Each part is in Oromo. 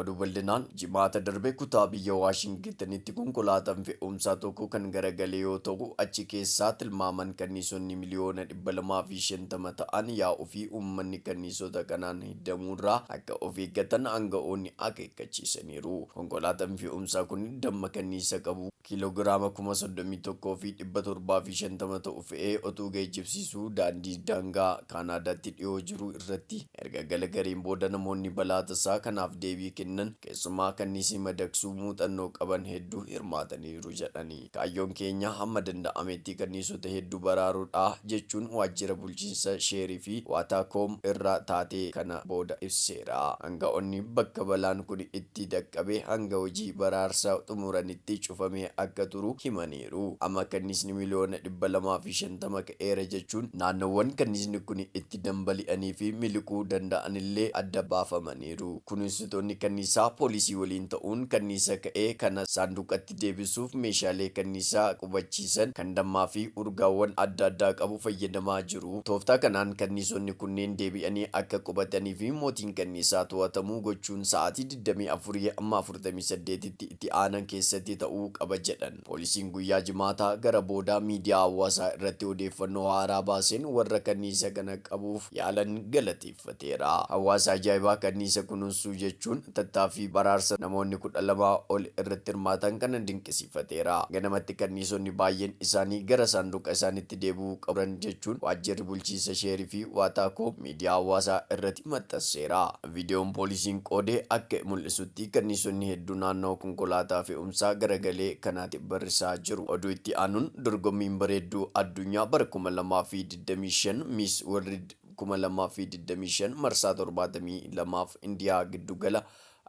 Oduu bal'inaan Jimaata darbe kutaa biyya Waashingitanitti konkolaataan fe'umsaa tokko kan garagale yoo ta'u, achi keessaa tilmaaman kanniisonni miliyoona 250 ta'an yaa'uu fi uummanni kanniisota kanaan hiddamuu irraa akka of eeggatan aanga'oonni akeekkachiisaniiru. Konkolaataan fe'umsaa kun damma kanniisa qabu. kiiloogiraama 31,750 ta'u fe'ee otuu geejjibsiisuu daandii daangaa Kaanaadaatti dhiyoo jiru irratti erga galagareen booda namoonni balaa tasaa kanaaf deebii kennan keessumaa kanniisii madaqsuu muuxannoo qaban heddu hirmaataniiru jedhani. Kaayyoon keenya hamma danda'ametti kanniisota heddu baraaruudha, jechuun waajjira bulchiinsa Sheerii fi Waataakoom irraa taatee kana booda ibseera. Aanga'oonni bakka balaan kuni itti. itti dhaqqabe hanga hojii baraarsaa xumuranitti cufamee akka turu himaniiru. Amma kanniisni miliyoona dhibba lamaa fi shantama ka'eera jechuun naannoowwan kanniisni kuni itti danbali'anii fi miliquu danda'anillee adda baafamaniiru. Kunuunsitoonni kanniisaa poolisii waliin ta'uun kanniisa ka'e kana saanduqa itti deebisuuf meeshaalee kanniisaa qubachiisan kan dammaa fi urgaawwan adda addaa qabu fayyadamaa jiru. Tooftaa kanaan kanniisonni kunneen deebi'anii akka qubatanii fi mootiin kanniisaa to'atamu gochuun sa'aatii 24-48tti itti aanan keessatti ta'uu qaba jedhan. Poolisiin guyyaa Jimaataa gara boodaa miidiyaa hawaasaa irratti odeeffannoo haaraa baaseen warra kanniisa kana qabuuf yaalan galateeffate. fateera. Hawaasa ajaa'ibaa kanniisa kunuunsuu jechuun tattaaffii baraarsa namoonni 12 ol irratti hirmaatan kana dinqisiifateera. Ganamatti kanniisonni baay'een isaanii gara saanduqa isaanitti deebi'uu qabu turan jechuun waajjirri bulchiinsa Sheerii fi Waataakoo miidiyaa hawaasaa irratti maxxanseera. Viidiyoon poolisiin qoode akka mul'isutti kanniisonni hedduu naannawa konkolaataa fe'umsaa garagalee kanaati barrisaa jiru. Oduu itti aanuun dorgommiin bareedduu addunyaa bara 2025 Miss World 2025 marsaa 72f Indiyaa giddu gala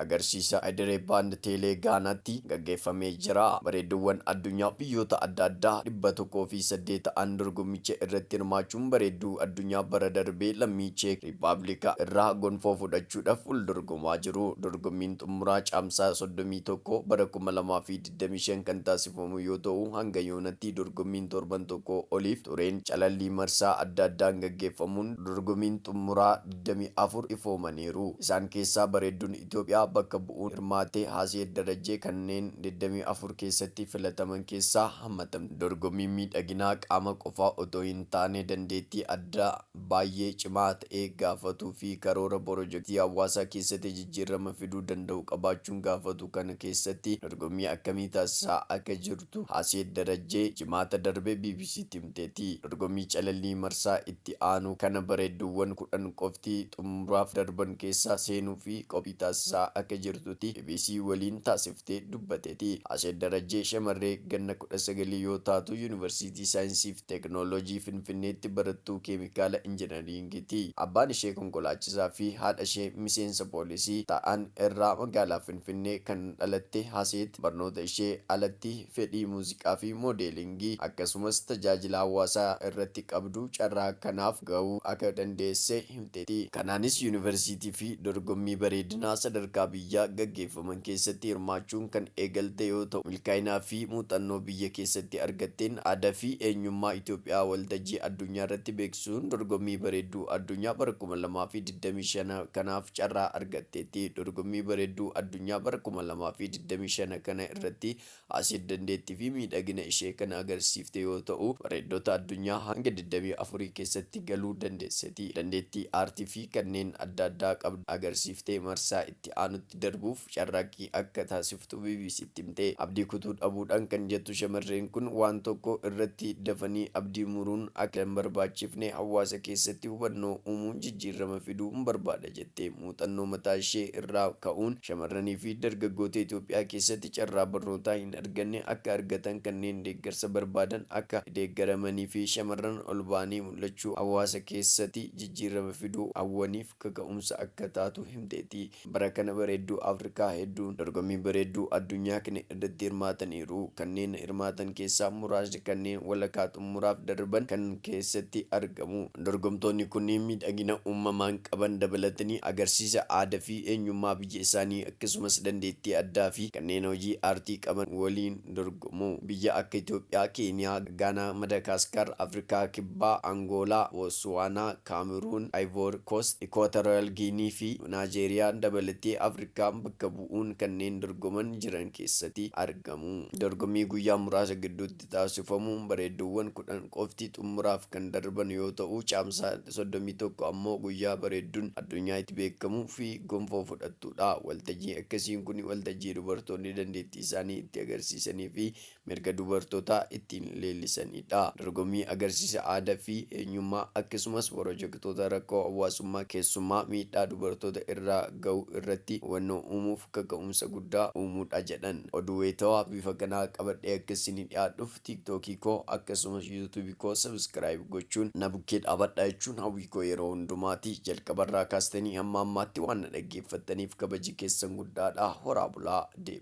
agarsiisa Ayidere Baand Teelee Gaanaatti gaggeeffamee jira. Bareedduuwwan addunyaa biyyoota adda addaa 108 ta'an dorgommicha irratti hirmaachuun bareedduu addunyaa bara darbee lammii Cheek Riippaabilika irraa gonfoo fudhachuudhaf wal dorgomaa jiru. Dorgommiin xummuraa Caamsaa 31 bara 2025. 25 kan taasifamu yoo ta'u, hanga yoonatti dorgommiin torban tokkoo oliif tureen calallii marsaa adda addaan gaggeeffamuun dorgomiin xummuraa 24 ifoomaniiru. Isaan keessaa bareedduun Itoophiyaa bakka bu'uun hirmaatte Haaseet Darajjee kanneen 24 keessatti filataman keessaa hammatamti. Dorgommiin miidhaginaa qaama qofaa otoo hin taane dandeettii addaa. baay'ee cimaa ta'e gaafatuu fi karoora porojektii hawaasaa keessatti jijjiirrama fiduu danda'u qabaachuun gaafatu kana keessatti dorgommii akkamii taasisaa akka jirtu Haaseet Darajjee Jimaata darbe BBC'tti himteetti. Dorgommii calallii marsaa itti aanu kana bareedduuwwan 10 qofti xumuraaf darban keessa seenuuf qophii taasisaa akka jirtutti bbc waliin taasifte dubbateeti. Haaseet Darajjee shamarree ganna 19 yoo taatu Yuunivarsiitii Saayinsii fi. Teeknooloojii Finfinneetti barattuu keemikaala injinariingii ti. Abbaan ishee konkolaachisaa fi haadha ishee miseensa poolisii ta'an irraa magaalaa Finfinnee kan dhalatte Haseet barnoota ishee alatti fedhii muuziqaa fi moodeelingii akkasumas tajaajila hawaasaa irratti qabdu carraa kanaaf ga'uu akka dandeesse himteetti. argatteeti. Kanaanis Yuunivarsiitii fi dorgommii bareedinaa sadarkaa biyyaa gaggeeffaman keessatti hirmaachuun kan eegalte yoo ta'u, milkaa'inaa fi muuxannoo biyya keessatti argatteen aadaa fi eenyummaa Itoophiyaa waltajjii addunyaarratti beeksisuun dorgommii bareedduu addunyaa bara 2025 kanaaf carraa argatteetti. Dorgommii bareedduu addunyaa bara 2025 kana irratti Aseet dandeettii fi miidhagina ishee kan agarsiifte yoo ta'u, bareeddota addunyaa hanga digdamii afurii keessatti galuu dandeesseti. Dandeettii aartii fi kanneen adda addaa qabdu agarsiiftee marsaa itti aanutti darbuuf carraaqqii akka taasiftu BBC'tti himte. Abdii kutuu dhabuudhaan kan jettu shamarreen kun, waan tokko irratti dafanii abdii muruun akka hin barbaachifne hawaasa keessatti hubannoo uumuun jijjiirrama fiduun barbaada jette. T Muuxannoo mataa ishee irraa ka'uun shamarranii fi dargaggoota Itoophiyaa keessatti carraa barnootaa hin arganne akka argatan kanneen deeggarsa barbaadan akka deeggaramanii fi shamarran ol ba'anii mul'achuu hawaasa keessati jijjiirrama fiduu hawwaniif kaka'umsa akka taatu himteetti. Bara kana bareedduu Afrikaa hedduun dorgommii bareedduu addunyaa kne. irratti hirmaataniiru. Kanneen hirmaatan keessaa muraasni kanneen walakaa xummuraaf darban kan keessatti argamu. Dorgomtoonni kunneen miidhagina uumamaan qaban dabalatanii agarsiisa aada fi eenyummaa biyya isaanii akkasumas dandeettii addaa fi kanneen hojii aartii qaban waliin dorgomu. Biyya akka Itoophiyaa, Keeniyaa, Gaanaa, Madakaaskaar, Afrikaa Kibbaa, Angoolaa, Bootsuwaanaa, Kaameruun, Ayivoor Koost, Ikwaatoraal Giinii fi Naajeeriyaa dabalatee Afrikaan bakka bu'u. bu'uun kanneen dorgoman jiran keessati argamu. Dorgommii guyyaa muraasa gidduutti taasifamuun bareedduuwwan 10 qofti xummuraaf kan darban yoo ta'u, Caamsaa 31 ammoo guyyaa bareeddun addunyaa itti beekkamu fi gonfoo fudhattuudha. Waltajjiin akkasiin kuni waltajjii dubartoonni dandeettii isaanii itti agarsiisanii fi mirga dubartootaa ittiin leellisanidha. Dorgommii agarsiisa aada fi eenyummaa akksumas worojektoota rakkoo hawwaasummaa keessummaa miidhaa dubartoota irraa gahu irratti hubannoo uumuuf kaka'umsa guddaa uumudha jedhan. Oduu waytawaa bifa kanaa qabadhee akka isinii dhiyaadhuuf tiktok koo akkasumas youtube koo subscribe gochuun na bukkee dhaabadhaa jechuun hawwii koo yeroo hundumaati. Jalqaba irraa kaastanii hamma ammaatti waan na dhaggeeffattaniif kabaji keessan guddaadha. Horaa bulaa. Dev.